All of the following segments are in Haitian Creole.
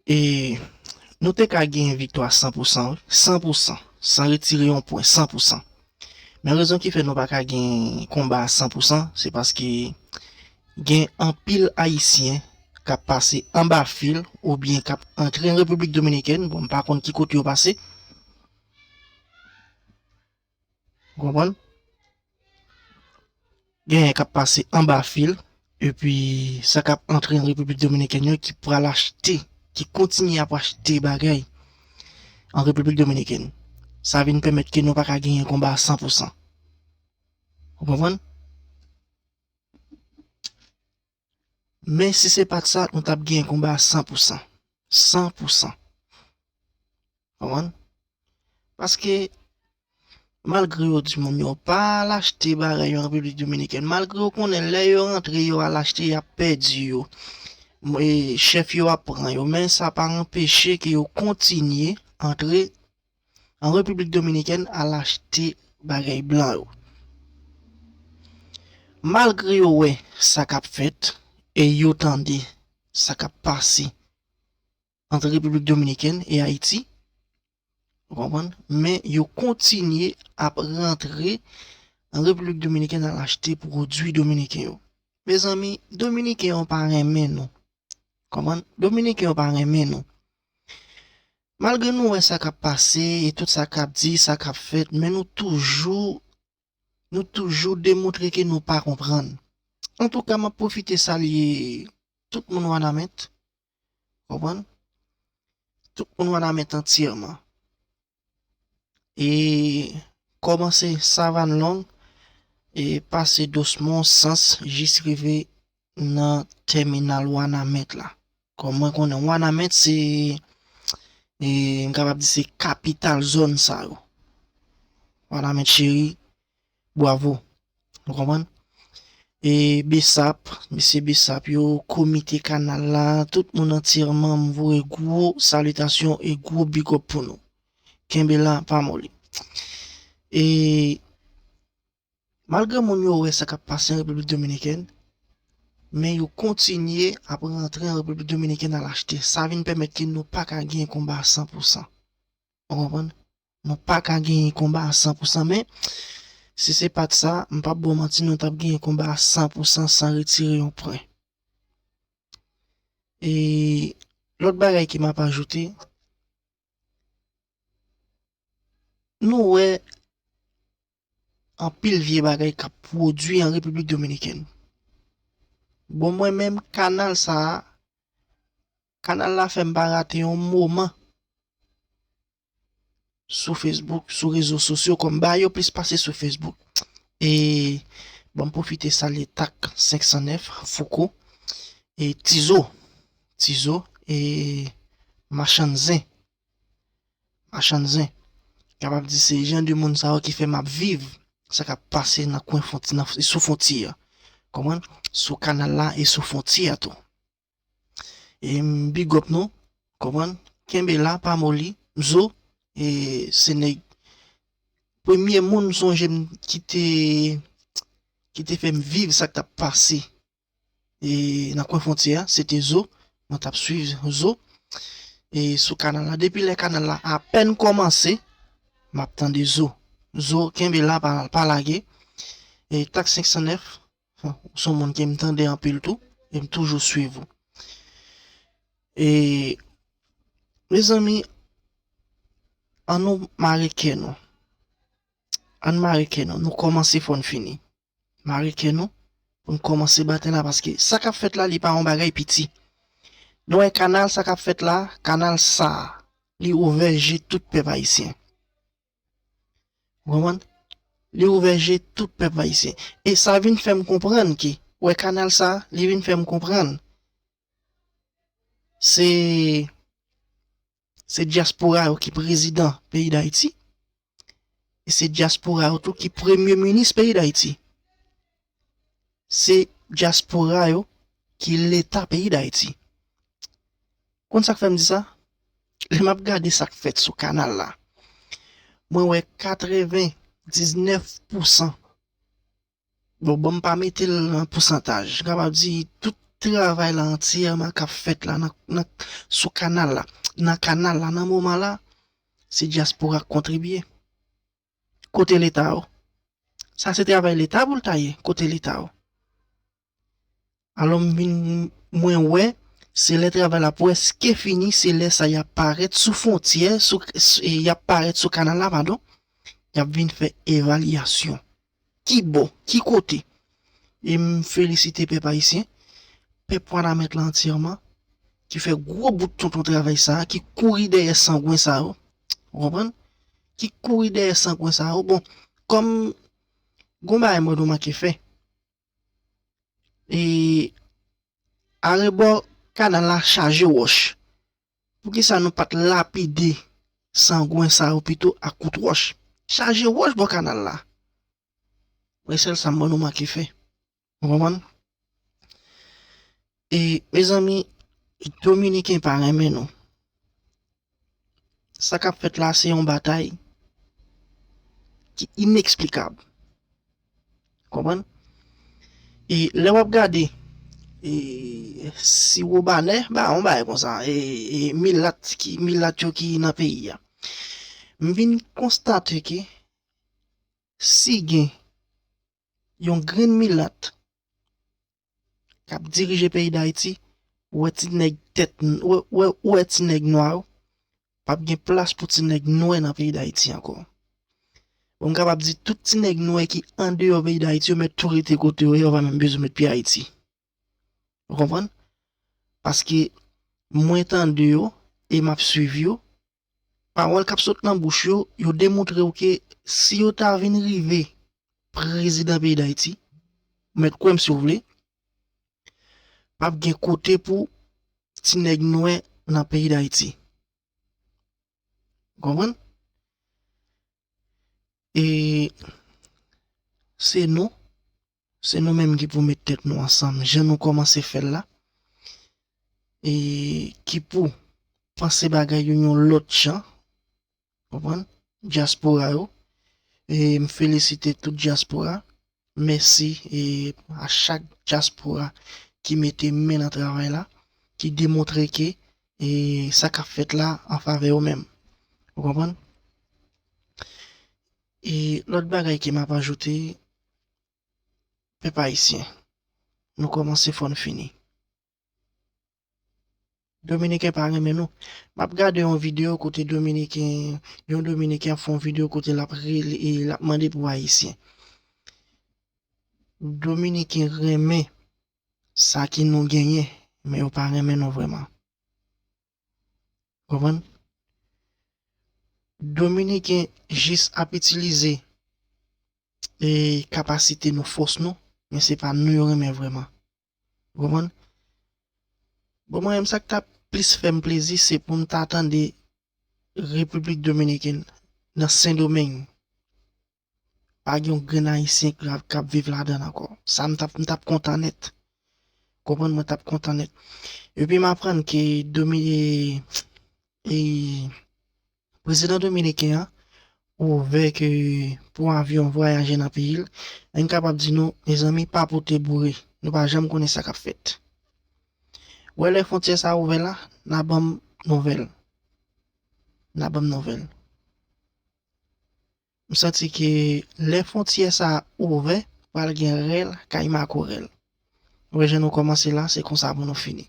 E nou te ka genyen viktwa 100 pou 100 wi, 100 pou 100, san retire yon pwen, 100 pou 100. Men rezon ki fè nou pa ka genyen konba 100 pou 100, se paske gen anpil Ayisyen k ap pase anba fil ou byen k ap antre an Repiblik Dominikèn, bon m pa konn ki kote yo pase, Ou konprann? Genyen kap pase anba fil epi sa kap antre an Repiblik Dominikèn yo ki pral achte, ki kontinye ap achte bagay an Repiblik Dominikèn. Sa vin pèmèt ke nou pa ka genyen konba a san pou san. Ou konprann? Men si se pat sa nou tap genyen konba a san pou san. San pou san. Konprann? Paske malgre yo di moun yo pa al achte bagay yo an Repiblik Dominikèn, malgre yo konnen lè yo rantre yo al achte y ap pèdi yo, chèf yo ap pran yo men sa pa anpeche ke yo kontinye antre An Repiblik Dominikèn al achte bagay blan yo. Malgre yo wè sa k ap fèt e yo tande sa k ap pase ant Repiblik Dominikèn e Ayiti, ou konprann, men yo kontinye ap rantre an Repiblik Dominikèn al achte pwodui dominiken yo. Mezanmi, dominiken yo pa renmen nou. Konprann? Dominiken yo pa renmen nou. Malgre nou wè sa kap pase e tout sa kap di, sa kap fèt men nou toujou nou toujou demoutre ke nou pa konprann. Antouka map pwofite salye tout moun wanament konprann tout moun wanament antyèman e kòmanse savann long e pase dosmon sans jis rive nan tèminal wanament la kòm mwen konnen wanament se m kapab di se kapital zòn sa yo wanament cheri bwavo nou konprann e besap mesye besap yo komite kanal la tout moun antirman m voye gwo salitasyon e gwo bigòp pou nou kenbe la pa moli e. Malgre moun yo wè sa k ap pase an Repiblik Dominikèn, men yo kontinye ap rantre an Repiblik Dominikèn al achte. Sa vin pèmèt ke nou pa ka genyen konba a san pou san. Ou konprann? Nou pa ka genyen konba a san pou san. Men, si se pa t sa, m p ap ba w manti, nou t ap genyen konba a san pou san, san retire yon pwen. E lòt bagay ke m ap ajoute, Nou wè anpil vye bagay k ap pwodui an Repiblik Dominikèn. Bon mwen menm kanal sa a, kanal la fè m pa rate yon moman sou Facebook, sou rezo sosyo kòm ba yo plis pase sou Facebook. E ban m pwofite salye tak 509, Fouco, e Tizo. Ti zo e machann zen. Machann zen. Kapab di se jan de moun sa yo ki fè map viv sa kap pase nan kwen fon nan sou fontye a. Konprann? Sou kanal la e sou fontye a tou. E m big up nou. Konprann? Kenbe la pa moli. M zo e se nèg premye moun m sonje m ki te ki te fè m viv sa k tap pase e nan kwen fontyè a se te zo mwen tap swiv zo e sou kanal la depi lè kanal la apèn kòmanse map tande zo zo kenbe la pa lage e tak 509 son moun kem tande anpil tou em toujou swiv ou e mezanmi an nou mare kè nou an nou mare kè nou nou kòmanse fòn fini mare kè nou pou n kòmanse batay la paske sa k ap fèt la li pa yon bagay piti. Nou wè kanal sa k ap fèt la, kanal sa a li ouvè je tout pèp ayisyen. Ou konprann? Li ouvè je tout pèp ayisyen. E sa vin fè m konprann ke wè kanal sa a li vin fè m konprann se Se dyaspora yo ki prezidan peyi Dayiti, e se dyaspora yo tou ki premye minis peyi Dayiti. Se dyaspora yo ki leta peyi Dayiti. Ou konn sa k fè m di sa? Lè m ap gade sa k fèt sou kanal la, mwen wè katreven diznèf pousan Bon banm pa metel nan pousantaj. M kapab di tout travay la antyèman kap fèt la nan sou kanal la, nan kanal la nan moman la se dyaspora k kontribye. Kote leta yo? Sa se travay leta pou l ta ye? Kote leta yo? Alò m vin mwen wè se lè travay la pwèske fini se lè sa y ap parèt sou fwontyè sou y ap parèt sou kanal la padon y ap vin fè evalyasyon ki bò ki kote e m felisite pèp ayisyen pèp wanament lan antyèman ki fè gwo bout tonton travay sa a ki kouri dèyè sangwen sa yo ou konprann ki kouri dèyè sangwen sa yo bon kòm gon bagay mwen remake fè. e arebò kanal la chaje wòch. Poukisa nou pat lapide sangwen sa yo pito ak kout wòch? Chaje wòch bò kanal la. Mwen sèl sa m wè nou manke fè. Ou konprann? E mezanmi dominiken pa renmen nou. Sa kap fèt la se yon batay ki ineksplikab. Konprann? E lè wap gade e siwobanè ba yon bagay konsa e e milat ki milat yo ki nan peyi a. M vin konstate ke si gen yon grenn milat kap dirije peyi dayiti ou wè ti nèg tèt ou wè ti nèg nwa yo pap gen plas pou ti nèg nwè nan peyi dayiti ankò bon m kapab di tout ti nèg nwè ki andeyò peyi dayiti yo mèt tou rete kote yo ye yo pa menm bezwen met pye ayiti ou konprann paske mwen tande yo e map swiv yo Pawòl k ap sot nan bouch yo, yo demontre w ke si yo ta vin rive prezidan peyi Dayiti, ou mèt kwè m si w vle, p ap gen kote pou ti nèg nwè nan peyi Dayiti. Ou konprann? E se nou Se nou menm ki pou met tèt nou ansanm jan nou kòmanse fè l la, e ki pou panse bagay yo yon lòt jan, konprann, dyaspora yo, e m felisite tout dyaspora, mèsi a chak dyaspora ki mete men nan travay la, ki demontre ke sa k ap fèt la an favè yo menm, ou konprann. E lòt bagay ke map ajoute, pèp ayisyen, nou kòmanse fò n fini. Dominiken pa renmen nou. Map gade yon video kote dominiken, yon dominiken ap fè yon video kote lap rele e lap mande pou ayisyen. Dominiken renmen sa ki nou genyen, men yo pa renmen nou vrèman. Konprann? Dominiken jis ap itilize e kapasite nou, fòs nou, men se pa nou yo renmen vrèman. Ou konprann? Bon mwen menm sa k ta plis fè m plezi se pou m ta tande Repiblik Dominikèn nan Sendomeng. Pa gen yon grenn ayisyen k ap viv ladan l ankò. Sa m t ap m t ap kontan nèt. Ou konprann mwen t ap kontan nèt. Epi m aprann ke prezidan dominiken an ouvè ke pou avyon vwayaje nan peyi l. Mwen kapab di nou, mezanmi pa pote boure. Nou pa janm konnen sa k ap fèt. Ou wè lè fwontyè sa a ouvè la, n a ban m nouvèl. N a ban m nouvèl. M santi ke lè fontyè sa ouvè pral gen rèl kay makorèl ou wè jan nou kòmanse la se konsa pou nou fini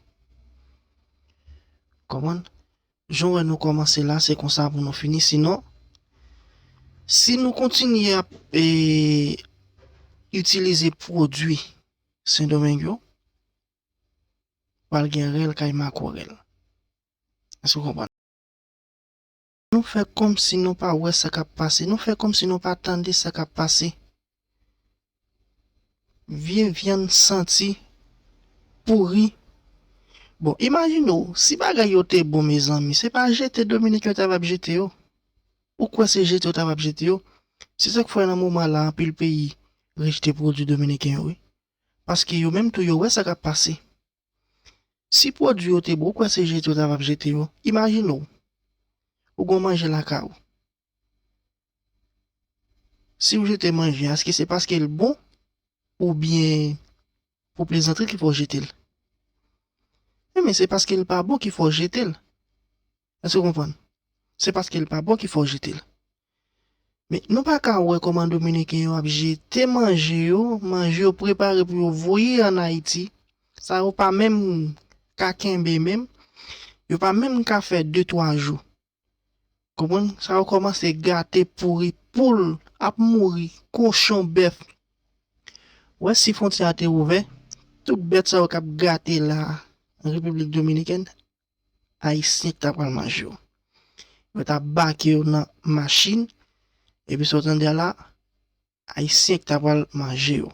konprann jan ou wè nou kòmanse la se konsa pou nou fini sinon si nou kontinye ap itilize pwodwi sendomeng yo pral gen rèl kay makorèl èske ou konprann. Nou fè kòmsi nou pa wè sa k ap pase, nou fè kòmsi nou pa tande sa k ap pase. Vye vyann santi pouri. Bon, imajine w, si bagay yo te bon mezanmi, se pa jete Dominik yo ta va p jete yo. Ou kwè se jete yo ta va p jete yo? Se sa k fè nan moman la anpil peyi rejte pwodui dominiken yo wi. Paske yo menm tou yo wè sa k ap pase. Si pwodwi yo te bon ou kwè se jete yo ta vap jete yo? Imajine w ou gon manje lakay ou si ou jete manje a eske se paske l bon oubyen pou plezantri ki fè w jete l? Enben se paske l pa bon ki fè w jete l. Èske w konprann? Se paske l pa bon ki fè w jete l. Men, nou pa ka wè kòman Dominiken yo ap jete manje yo, manje yo prepare pou yo voye an Ayiti, sa yo pa menm ka kenbe menm, yo pa menm ka fè de twa jou. Konprann? Sa yo kòmanse gate, pouri, poul ap mouri, kochon, bèf. Ou wè si fwontyè a te ouvè, tout bèt sa yo k ap gate la a, an Repiblik Dominikèn, Ayisyen ki ta pral manje yo. Yo ta bake yo nan machin, epi sa w tande a la, Ayisyen ki ta pral manje yo.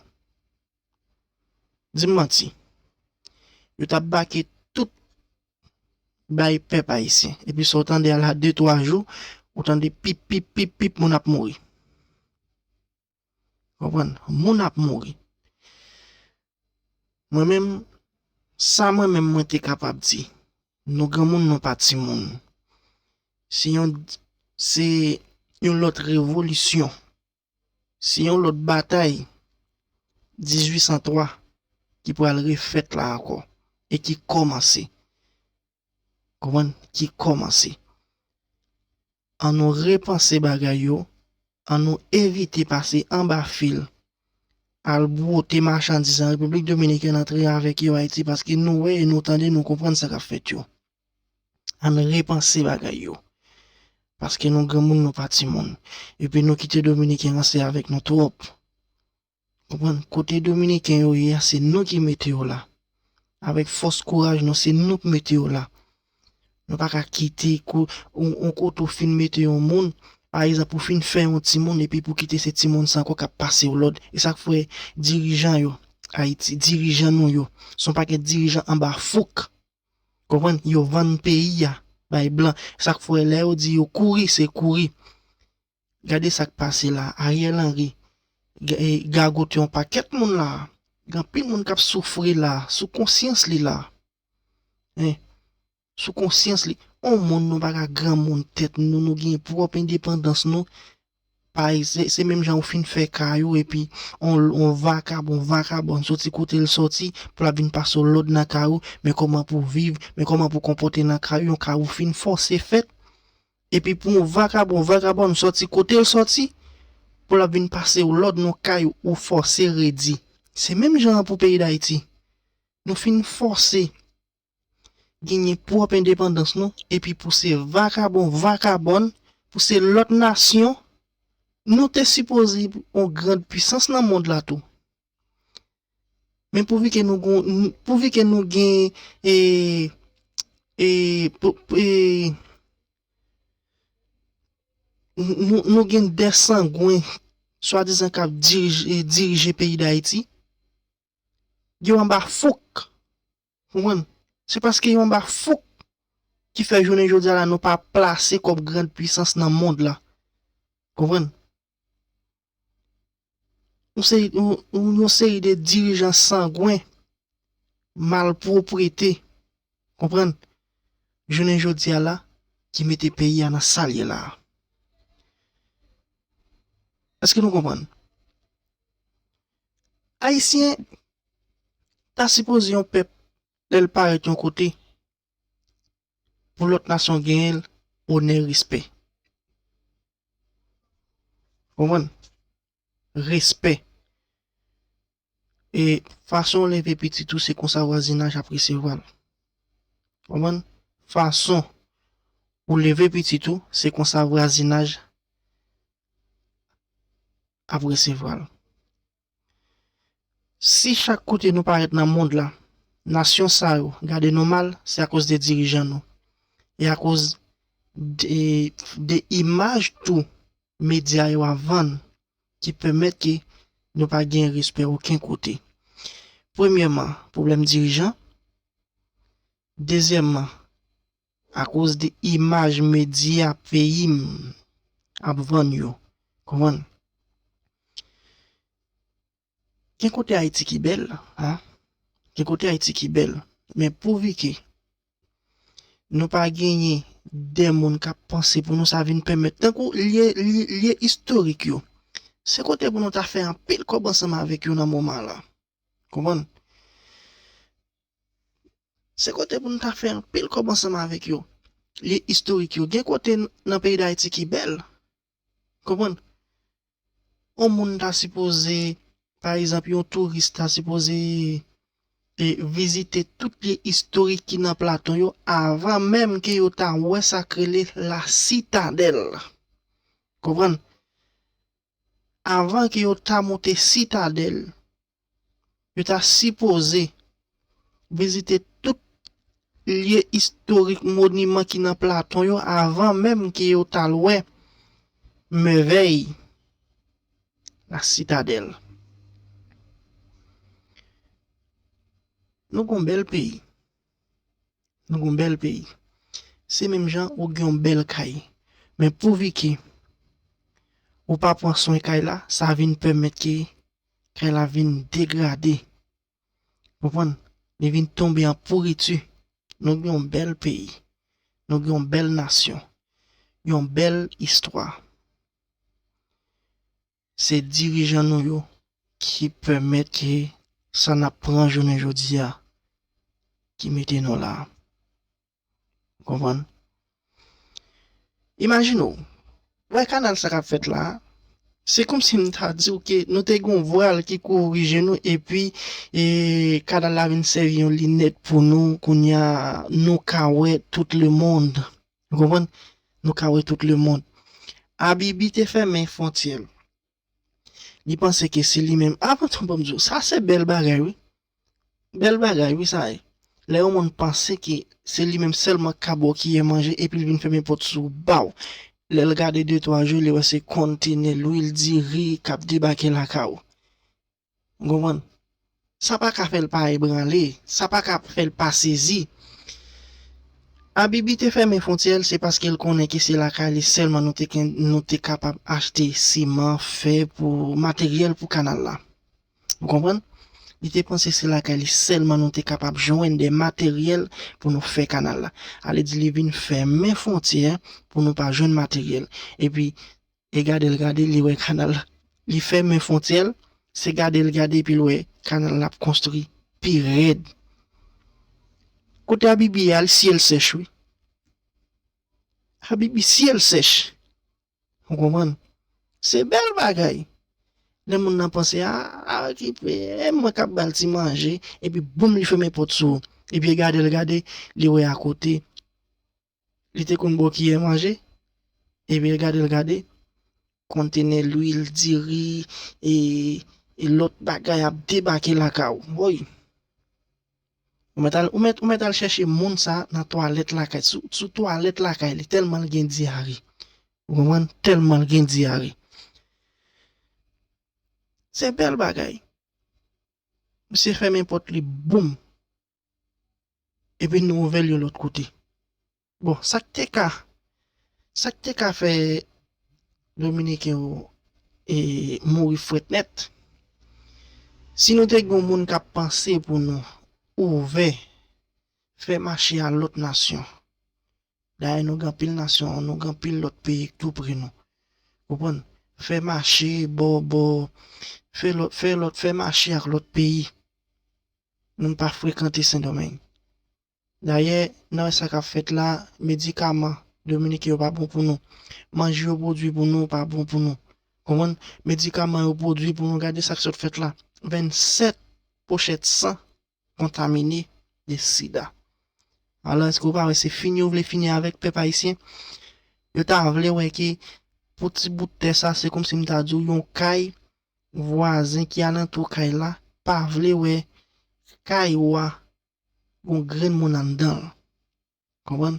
Di m manti. Yo ta bake tout bay pèp ayisyen. Epi sa w tande a la, de twa jou, ou tande pip pip pip pip moun ap mouri. Konprann? Moun ap mouri. Mwen menm, sa mwen menm mwen te kapab di, nou granmoun nou pa timoun. Se yon, se yon lòt revolisyon. Se yon lòt batay 1803 ki pral refèt la ankò e ki kòmanse. Konprann? Ki kòmanse. An nou repanse bagay yo, an nou evite pase anba fil, al bwote machandiz an Repiblik Dominikèn antre avèk yo Ayiti paske nou wè e nou tande nou konprann sa k ap fèt yo. An n repanse bagay yo. Paske nou granmoun nou pa timoun. Epi nou kite Dominiken ranse avèk nou twòp. Konprann, kote dominiken yo ye a se nou ki mete yo la. Avèk fòs kouraj nou se nou k mete yo la. Nou pa ka kite kou yon kote ou fin mete yon moun, pa egzanp ou fin fè yon timoun epi pou kite se timoun sa ankò k ap pase w lòd. E sa k fè dirijan yo Ayiti, dirijan nou yo se yon pakèt dirijan anba fouk. Konprann, yo vann peyi a bay blan. Sa k fè lè yo di yo kouri se kouri. Gade sak pase la Ariel Henry gagote yon pakèt moun la gen anpil moun kap soufri la sou konsyans li la hein sou konsyans li on moun nou pa ka granmoun tèt nou nou gen pwòp endepandans nou pa se menm jan ou fin fè kay ou epi on vakabon vakabòn soti kotel soti pou lap vin pase w lòd nan kay ou men kòman pou viv men kòman pou konpòte nan kay ou yon kay ou fin fòse fèt Epi pou yon vakabon vakabonn sòti kote l sòti pou l ap vin pase w lòd nan kay ou ou fòse redi. Se menm jan an pou peyi Dayiti. Nou fin fòse genyen pwòp endepandans nou epi pou se vakabon vakabonn, pou se lòt nasyon, nou te sipoze yon grand pwisans nan mond la tou. Men pouvi ke nou gon, pouvi ke nou gen e, e, e, nou gen de sangwen swadizan kap dirije peyi Dayiti, yo anba fouk. Pou mwen, se paske yon ba fouk ki fè jounen jodi a la nou pa plase kòm grand pwisans nan mond la. Konprann? Yon seri, yon seri de dirijan sangwen, malpwoprete, konprann, jounen jodi a la ki mete peyi a nan sa l ye la a. Eske nou konprann? Ayisyen ta sipoze yon pèp lè l parèt yon kote pou lòt nasyon genyen l onè respè. Ou konprann? Respè. E fason w leve pitit ou se konsa vwazinaj ap resevwa l. Ou konprann? Fason ou leve pitit ou se konsa vwazinaj. ap resevwa l. Si chak kote nou parèt nan mond la, nasyon sa yo gade nou mal, se akoz de dirijan nou, e akoz de imaj tou medya yo ap vann ki pèmèt ke nou pa gen respè oken kote. Premyèman, pwoblèm dirijan. Dezyèmman, Akoz de imaj medya peyi m ap vann yo. Konprann? Gen kote Ayiti ki bèl, a. Gen kote Ayiti ki bèl. Men pouvike nou pa genyen de moun k ap panse pou nou sa vin pèmèt tankou lye lye istorik yo. Se kote pou nou ta fè anpil kòb ansanm avèk yo nan moman lan. Konprann? Se kote pou nou ta fè anpil kòb ansanm avèk yo. Lye istorik yo. Gen kote nan peyi Dayiti ki bèl. Konprann? On moun ta sipoze, pa egzanp, yon touris ta sipoze e vizite tout lye istorik ki nan Platon yo avan menm ke yo ta wè sa k rele La Citadelle. Konprann? avan ke yo ta moute Sitadèl, yo ta sipoze vizite tout lye istorik moniman ki nan Platon yo avan menm ke yo ta l wè mèvèy La Sitadèl. Nou gon bèl peyi. Nou gon bèl peyi. Se menm jan ou gen yon bèl kay. Men pou Vicky, ou pa pran swen kay la, sa vin pèmèt ke kay la vin degrade. Ou konprann? Li vin tonbe an pouriti. Nou gen yon bèl peyi. Nou gen yon bèl nasyon. Yon bèl istwa. Se dirijan nou yo ki pèmèt ke sa n ap pran jounen jodi a ki mete nou la a. Ou konprann? Imajine w, ou wè kanal sa k ap fèt la a, se kòmsi m ta di w ke nou te gen yon vwal ki kouvri je nou epi kanal la vin sèvi yon linèt pou nou, kounye a nou ka wè tout lemonn. Ou konprann? Nou ka wè tout lemonn. Abibi te fèmen fontyè l. Li panse ke se li menm. A tonton banm di w, sa se bèl bagay wi. Bèl bagay wi sa ye. Lè yon moun panse ke se li menm sèlman k ka ba w kiyè manje epi l vin fèmen pòt sou w ba w. Lè l gade de twa jou li wè se kontenè lwil diri k ap debake lakay ou. Ou konprann? Sa pa ka fè l pa ebranle, sa pa ka fè l pa sezi. Abibi te fèmen fontyè l, se paske l konnen ke se lakay li sèlman nou te kapab achte siman, fè pou materyèl pou kanal la. Ou konprann? Li te panse se lakay li sèlman nou te kapab jwenn de materyèl pou nou fè kanal la. Alèdi li vin fèmen fontyè pou nou pa jwenn materyèl. Epi, E gadel gade li wè kanal li fèmen fontyèl se gadel gade epil wè kanal lap konstri pi rèd kote abibi ye al syel sèch wi abibi syel sèch ou konprann se bèl bagay lè moun nan panse aa kipe mwen kap bal ti manje epi boum li fèmen pòt sou epi gadel gade li wè akote. Li te konn bo kiyè manje, epi l gade l gade kontenè lwil, diri e lòt bagay ap debake lakay ou. Woy! Ou mèt al, ou mèt, ou mèt al chèche moun sa a nan twalèt lakay, sou, sou twalèt lakay li, tèlman l gen dyare. Ou konprann? Tèlman l gen dyare. Se bèl bagay. Misye fèmen pòt li boum! Epi nou ouvè l yon lòt kote. Bon, sa k te ka, sa k te ka fè Dominiken yo mouri frèt nèt, si nou te gen yon moun k ap panse pou nou ouvè, fè mache a lòt nasyon, dayè nou gen anpil nasyon, nou gen anpil lòt peyi k tou pre nou, konprann, fè mache bò, bò, fè lòt, fè lòt, fè mache ak lòt peyi. Nou m pa frekante Sendomeng. Dayè, n wè sa k ap fèt la, medikaman Dominiken yo pa bon pou nou. Manje yo pwodui pou nou pa bon pou nou. Konprann? Medikaman yo pwodui pou nou, gade sa k sot fèt la, 27 pochèt san kontamine de sida. Alò, èske ou pa wè se fini yo vle fini avèk pèp ayisyen? Yo ta vle wè ke pou ti bout tè sa, se kòmsi m ta di w yon kay, Vwazen ki alantou kay la pa vle wè kay ou a gon grenn moun anndan l. Konprann?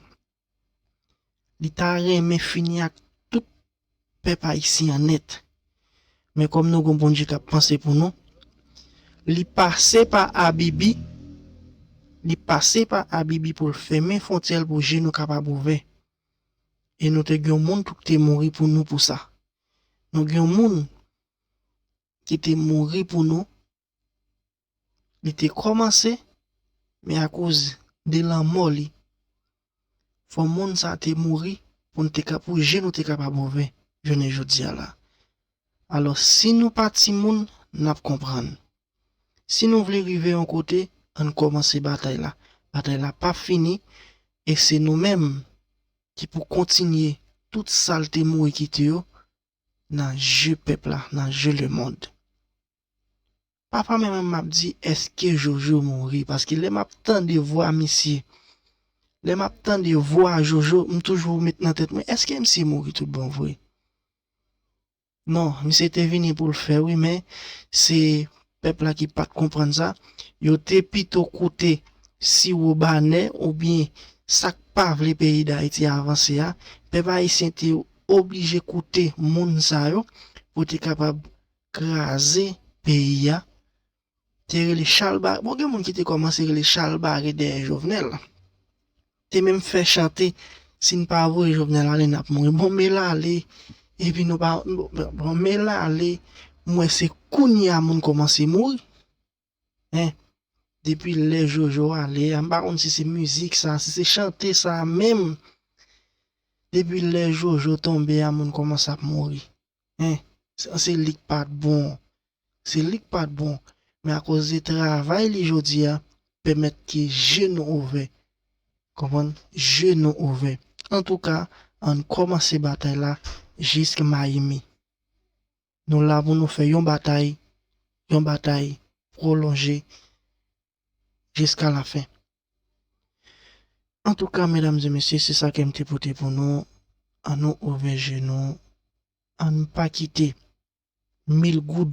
Li ta renmen fini ak tout pèp ayisyen an nèt. Men kòm nou gon Bondye k ap panse pou nou, li pase pa Abibi, li pase pa Abibi pou l fèmen fwontyè l pou je nou kapab ouvè. E nou te gen yon moun tou k te mouri pou nou pou sa. Nou gen yon moun ki te mouri pou nou, li te kòmanse, men akoz de lanmò li, fò moun sa te mouri pou nou te ka, pou je nou te kapab ouvè jounen jodi a la. Alò, si nou pa timoun, n ap konprann. Si nou vle rive yon kote, ann kòmanse batay la. Batay la p ap fini, e se nou menm ki pou kontinye tout sa l te mouri kite yo nan je pèp la, nan je lemond. Papa mwen menm m ap di eske Jojo mouri paske lè m ap tande vwa misye, lè m ap tande vwa Jojo m toujou met nan tèt mwen eske misye mouri tout bon vre? Non misye te vini poul fè wi men se pèp la ki pat konprann sa yo te pito koute siwo banè oubyen sak pa vle peyi dayiti avanse a pèp ayisyen te oblije koute moun sa yo pou te kapab kraze peyi a Te rele chalbare bon gen moun ki te kòmanse rele chalbare dèyè jovenel te menm fè chante si n pa voye jovenel ale nap mouri bon me l ale epi nou pa bon me l ale m wè se kounya moun kòmanse mouri en depi lè jojo ale a m pa konn si se mizik sa si se chante sa menm depi lè jojo tonbe a moun kòmanse ap mouri. Hein sa se lik pat bon se lik pat bon men akoz de travay li jodia pèmèt ke je nou ouvè konprann je nou ouvè antouka ann kòmanse batay la jisk mayimi nou la pou nou fè yon batay yon batay pwolonje jiska la fen. Antouka medam e mesye se sa kem te pote pou nou an nou ouvè je nou ann pa kite mil goud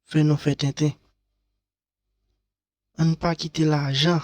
fè nou fè tenten ann pa kite lajan